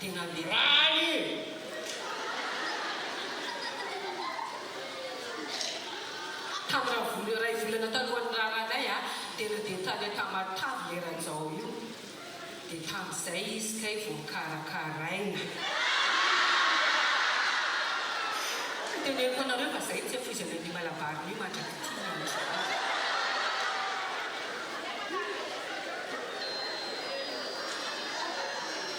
Tena miray e! Taminà vola iray volana talohan'ny raharahanay a, tena dia tany Tamatave ilay rajao io. Dia tamin'izay izy kay vao nikarakaraina. Tsy teneniko anareo fa izay tsy afoizana an'io malabar-ny io mandrak'ity ny andronay.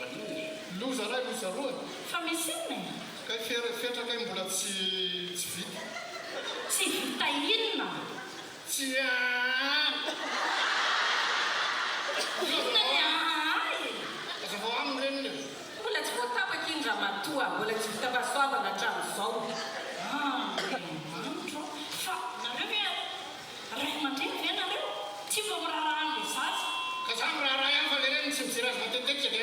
Maninona e? Loza lahy loza roa. Fa misy inona e? Kay fery fetra kay mbola tsy tsy vita. Tsy vita inona? Tsy aa. Inona ny aa e? Aza vao aminy reniny e. Mbola tsy voatapaka iny ramatoa a, mbola tsy vita fahasoavana hatramin'izao. Andriamanitra o, fa nareo ve Ray aman-dreny ve nareo? Tsy vao miraharaha an'ilay zaza? Ka za miraharaha ihany fa le reny tsy mijery azy matetika ve?